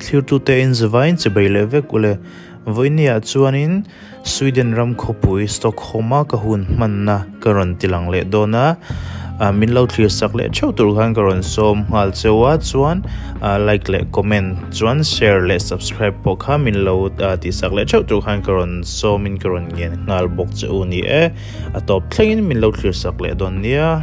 Thirtute in zavain che bei leh vek u le. Voiniah chuanin Sweden ram khawpui Stockholm-a ka hun hmanna ka rawn ti lang leh dawn a. Min lo thlir sak leh theuh tur khan ka rawn sawm nghal cheu a, chuan like leh comment chuan share leh subscribe pawh kha min lo tih sak leh theuh tur khan ka rawn sawmin ka rawn ngen nghal bawk che u ni e. A tawp thlengin min lo thlir sak leh dawn nia.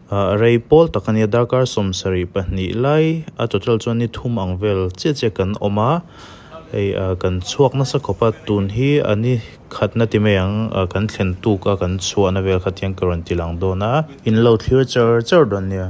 A rei pawl tak a nia, darkar sawm sarih pahnih lai a total chuan ni thum ang vel chiah chiah kan awm a, hei kan chhuak nasa khawpa tun hi a ni khat na ti mai ang, kan thlen tuk a kan chhuah na vel khat hian ka rawn ti lang dawn a. In lo thlir char char dawn nia.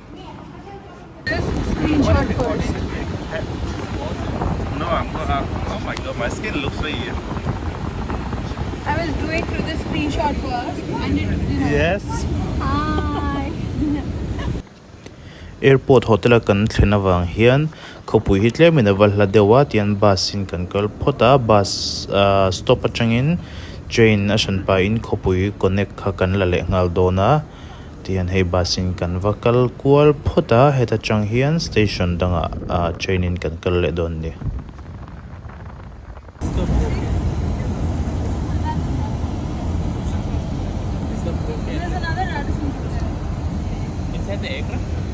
Airport hotel a kan thlen avang hian khawpui hi tlem in a va hla deuh a tian bus in kan kal phawt a bus ah stop atangin train a hran pahin khawpui connect kha kan la lehnghal dawn a. Tihian hei bus in kan va kal kual phawt a, heta chang hian station dangah train in kan kal leh dawn ni.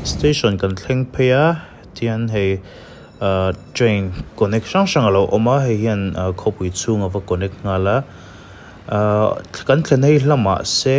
Station kan thleng phei a, tihian hei train connect hrang hrang a lo awm a, hei hian khawpui chhung a va connect nghal a, kan thlen hei hlamah se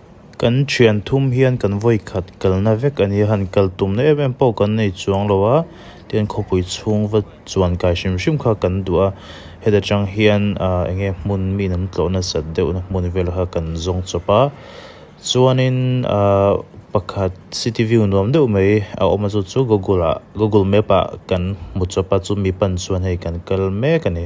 Kan thian thum hian kan vawi khat kalna vek a nia, han kal tumna em em pawh kan nei chuang lo a, tihian khawpui chhungva chuan kai hrim hrim kha kan duh a, heta tang hian aah eng nge hmun miin an tlawh nasat deuhna hmun vel kha kan zawng chawp a, chuanin aah pakhat city view nuam deuh mai a awm a chu chu Google ah Google map ah kan hmu chawp a, chu mi pan chuan hei kan kal mek a ni.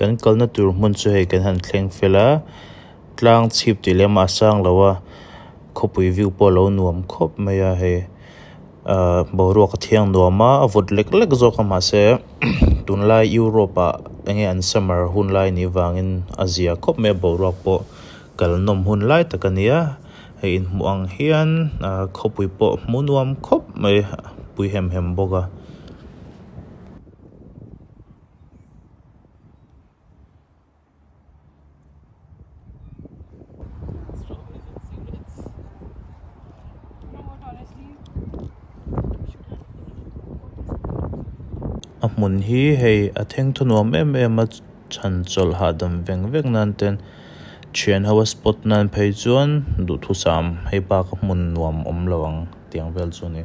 Kan kalna tur hmun chu hei kan han thleng fel a, tlang chhip tih leh mah sang lo a khawpui view pawh a lo nuam khawp mai a hei ahh boruak a thiang nuam a a vawt lek lek zawk a mahse tunlai Europe ah enge an summer hunlai nih vangin a zia khawp mai a boruak pawh kalnawm hun lai tak a ni a. hei in hmuh ang hian ahh khawpui pawh hmu nuam khawp mai pui hem hem bawk a. A hmun hi hei a thengthu nuam em em a. Chhan chawlh hahdam veng vek nan ten thian ho a spot nan phei chuan duhthusam hei pa ka hmun nuam awm lo ang tiang vel chu a ni.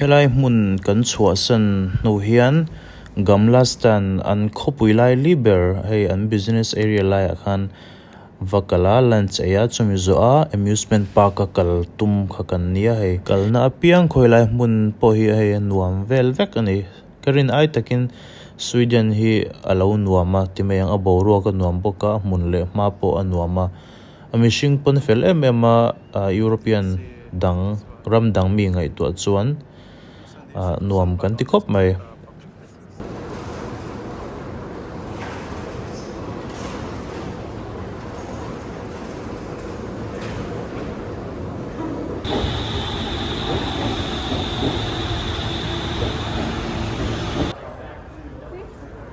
Helai hmun kan chhuahsan hnu hian Gamla stand an khawpui lai li ber hei an business area laiah khan va kal a, lunch ei a chumi zawh a amusement park a kal tum kha kan ni a hei. Kalna apiang khawi lai hmun pawh hi hei a nuam vel vek a ni. Ka rin ai takin Sweden hi a lo nuam a, ti mai ang a boruak a nuam bawk a, a hmun leh hma pawh a nuam a. A mihring pawn fel em em a, European dang ram dang mi ngaihtuah chuan nuam kan ti khawp mai.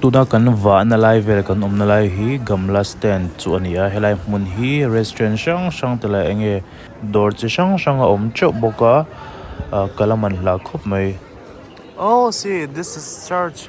Tuna kan vahna lai vel kan awmna lai hi Gamla stand chu a ni a helai hmun hi restaurant hrang hrang te leh eng nge dawr chi hrang hrang a awm teuh bawk a ah ka la man hlah khawp mai oh see this is church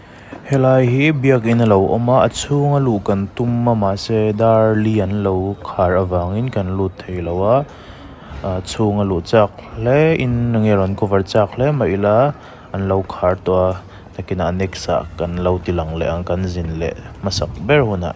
Helai hi biakin a lo awm a, a chhunga luh kan tum a mahse dar li an lo khar avangin kan lut thei lo a, a chhunga luh chak hle in enge rawn cover chak hle mah ila an lo khar tawh a takin a next ah kan lo ti lang leh ang kan zin leh hmasak ber hunah.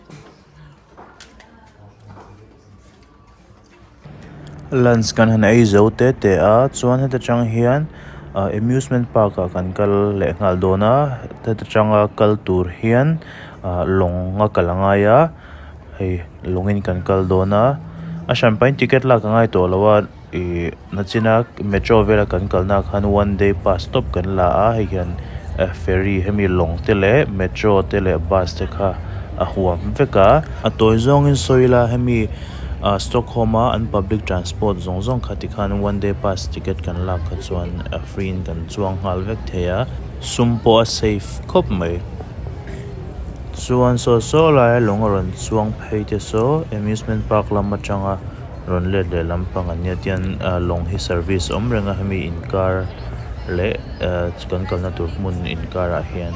Lunch kan han ei zo te te a chuan heta tang hian ah amusement park ah kan kal leh nghal dawn a heta tanga kal tur hian ah lawng a kal a ngai a hei lawngin kan kal dawn a a hran pahin ticket lak a ngai tawh lo a. Ih nachina metro vela kan kalna ah khan one day pass tawp kan la a hei hian eh ferry hemi lawng te leh metro te leh bus te kha a huam vek a. A tawi zawngin sawi ila hemi ah stockholm a an public transport zawng zawng kha ti khan one day pass ticket kan lak kha chuan eh free in kan chuang nghal vek thei a. Sum pawh a safe khawp mai. Chuan saw saw laia lawng a rawn chuang phei te saw amusement park lam atanga. Rawn let leh lampang an nia tian lawng hi service awm reng a hemi inkar leh kan kalna tur hmun inkar ah hian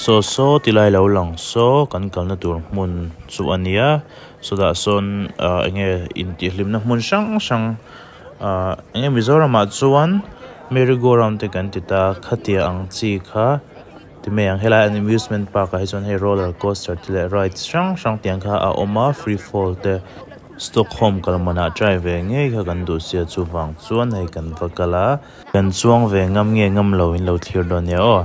Saw saw ti lai lo lang saw kan kalna tur hmun chu a nia, sawtah sawn ah enge intihhlimna hmun hrang hrang ah enge Mizoram ah chuan Merry go round te kan ti ta, khatia ang chi kha ti mai ang, helai an amusement park ah hi chuan hei roller coaster te leh rides hrang hrang te ang kha a awm a, free fall te. Stockholm kalmana try ve ngei kha kan duh sia chuvang chuan hei kan va kal a. Kan chuang ve ngam nge ngam lo in lo thlir lo nia aw.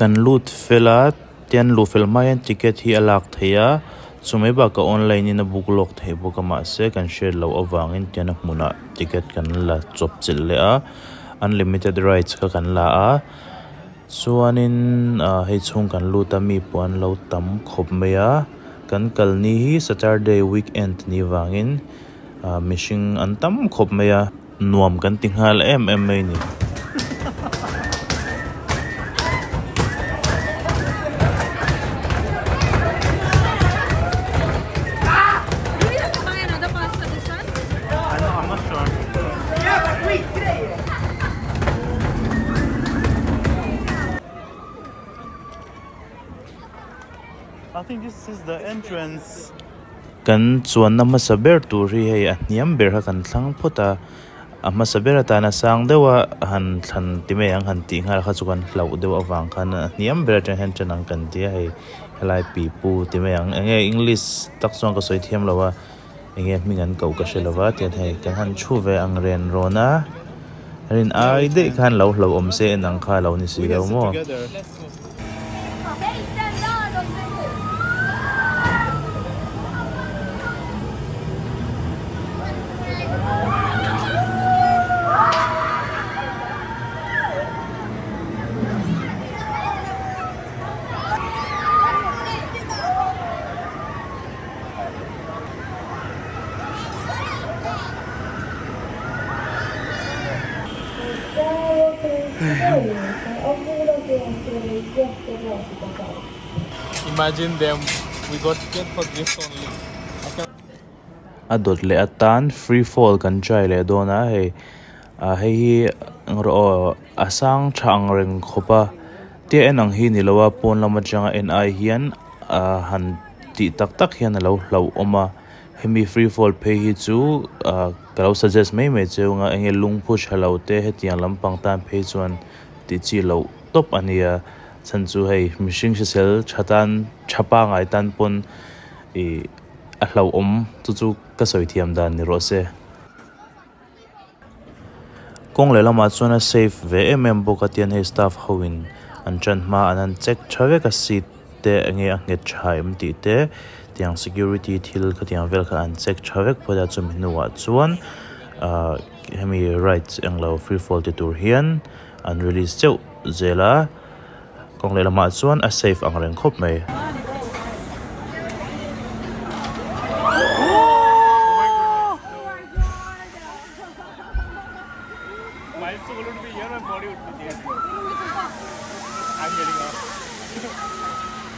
Kan lut fel a, tian luh fel hma hian ticket hi a lak thei a, chu mai bakah online in a book lawk thei bawk a mahse kan hriat loh avangin tian a hmunah ticket kan la chawp chelh leh a, unlimited rights kha kan la a. Chuanin aah hei chhung kan lut a mi pawh an lo tam khawp mai a, kan kal ni hi Saturday week end ni vangin aah mihring an tam khawp mai a, nuam kan ti nghal em em mai ni. Kan chuanna hmasa ber tur hi hei a hniam ber kha kan thlang phawt a, a hmasa ber atan a sang deuh a, han thlan ti mai ang han tih nghal kha chu kan hlauh deuh avang khan a hniam ber atang hian tan ang kan tia hei helai pipu ti mai ang, eng nge English tak chuan ka sawi thiam lo a. enge hming an koh ka hre lo va tian hei ka han thu ve ang ren rawn a rin ai daih khan lo hlo awm se en ang kha lo ni si lo maw. A dawt leh atan free fall kan try leh dawn a hei. Ah hei hi eng rawh aw a sang tha ang reng khawp a tia en ang hi ni lo a pawn lam atanga en ai hian ah han tih tak tak hian a lo hlauh awm a hemi free fall phei hi chu ah ka lo suggest mai mai che ung a enge lung phu tha lo te hetiang lam pang tan phei chuan tih chi loh tawp a ni a chhan chu hei mihring hrisel tha tan tha pangai tan pawn ih a hlauh awm chu chu ka sawi thiam dan ni rawh se. Kawng leh lamah chuan a safe ve em em bawk a tian hei staff ho in an ṭan hma an han check ṭha vek a seat te enge a nghet ṭha em tih te tiang security thil khatiang vel kha an check ṭha vek phawt a chumi hnungah chuan ah hemi rides englo free fall ti tur hian an release chauh zel a. Kawng leh lamah chuan a safe ang reng khawp mai.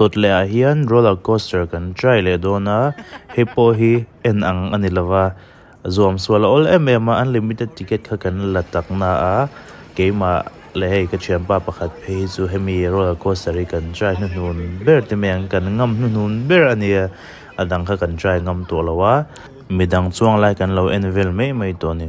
Dawt leh ah hian roller coaster kan try leh dawn a hei pawh hi en ang a ni lo va. Zuam sual a awl em em a, unlimited ticket kha kan la tak na a, keimah leh hei ka thianpa pakhat phei hi chu hemi roller coaster hi kan try hnuhnun ber te mai ang, kan ngam hnuhnun ber a nia, a dang kha kan try ngam tawh lo a, midang chuang lai kan lo en vel mai mai tawh a ni.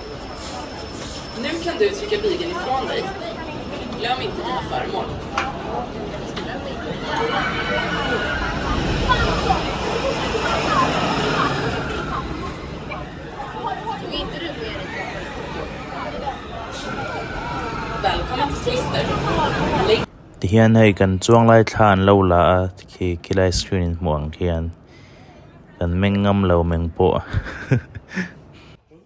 Tihian hei kan chuang lai thla an lo la a khi khilai screen in hmuh ang khian kan meng ngam lo meng pawh.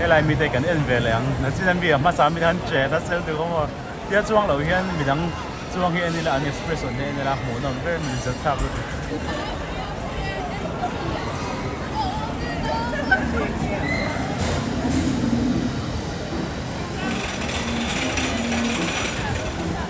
Helai mi te kan en ve leh ang, na chin a mi ah hmasa mi te han che ta sel duh awm aw, tia chuang lo hian midang chuang hi en ila an expression hi a en ila a hmuh nawm ber min zir thlak lutuk.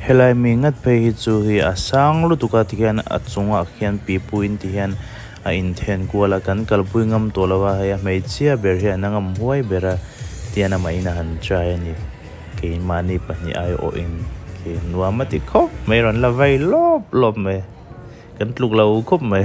Helai mi ngat phei hi chu hei a sang lutuk a tihian a chungah khian pipu in tihian a in then kual a, kan kalpui ngam tawh lo a, hei a hmeichhia ber hi an ngam huai ber a tihian amah in a han try a ni. Keimahni pahnih aiawhin nuam a ti khawp mai, rawn la vai lawp lawp mai. kan tluk lo khawp mai.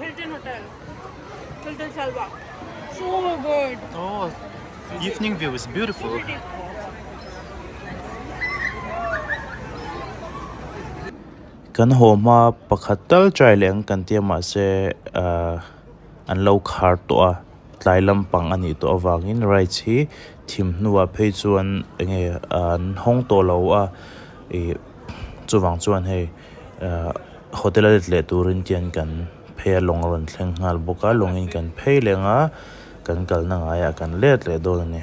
Hilton Hotel. Hilton Salva. So good. Oh, evening view is beautiful. Kan ho ma pakhat tal trai leng kan tia ma se an lo khar to a. Tlai lampang a nih tawh avangin rights hi thim hnuah phei chuan enge an hawng tawh lo a, ih chuvang chuan hei hotel a let leh turin kian kan phei a lawng a rawn thleng nghal bawk a, lawngin kan phei leng a, kan kalna ngaiah kan let leh dawn a ni.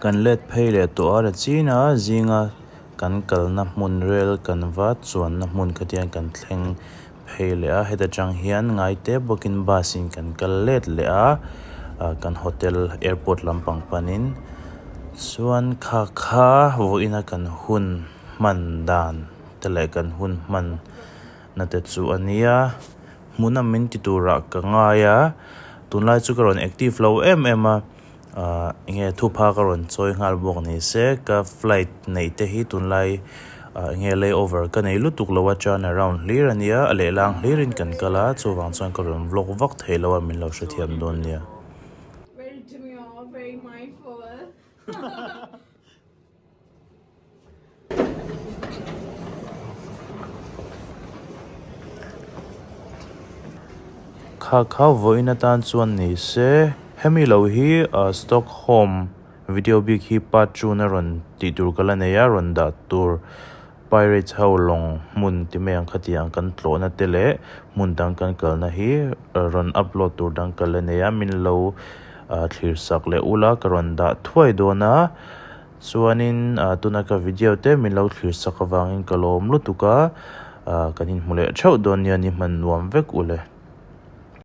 Kan let phei leh tawh a la chin a, zinga kan kalna hmun rel kan va chuanna hmun kha tian kan thleng phei leh a, heta chang hian ngai te bawkin bus in kan kal let leh a, kan hotel airport lampang panin chuan kha kha vawiina kan hun hman dan te leh kan hun hman na te chu a nia, hmuna min ti turah ka ngai a, tunlai chu ka rawn active lo em em a. Ahh enge thupha ka rawn chawi nghal bawk ni se, ka flight neih te hi tunlai ah enge lay over ka nei lutuk lo a turn around hlir a nia, a lehlang hlir in kan kal a, chuvang chuan ka rawn vlog vak thei lo a min lo hrethiam dawn nia. Kha kha vawiin atan chuan ni se, hemi lo hi Stockholm video bik hi part two-na rawn tih tur ka la nei a, rawn dah tur. Pirates ho lawng hmun ti mai ang kha tiang kan tlawhna te leh hmun dang kan kalna hi rawn upload tur dang kal a nei a, min lo thlir sak leh ul a, ka rawn dah thuai dawn a, chuanin tuna ka video te min lo thlir sak avangin ka lawm lutuk a, kan inhmu leh theuh dawn nia ni hman nuam vek ule.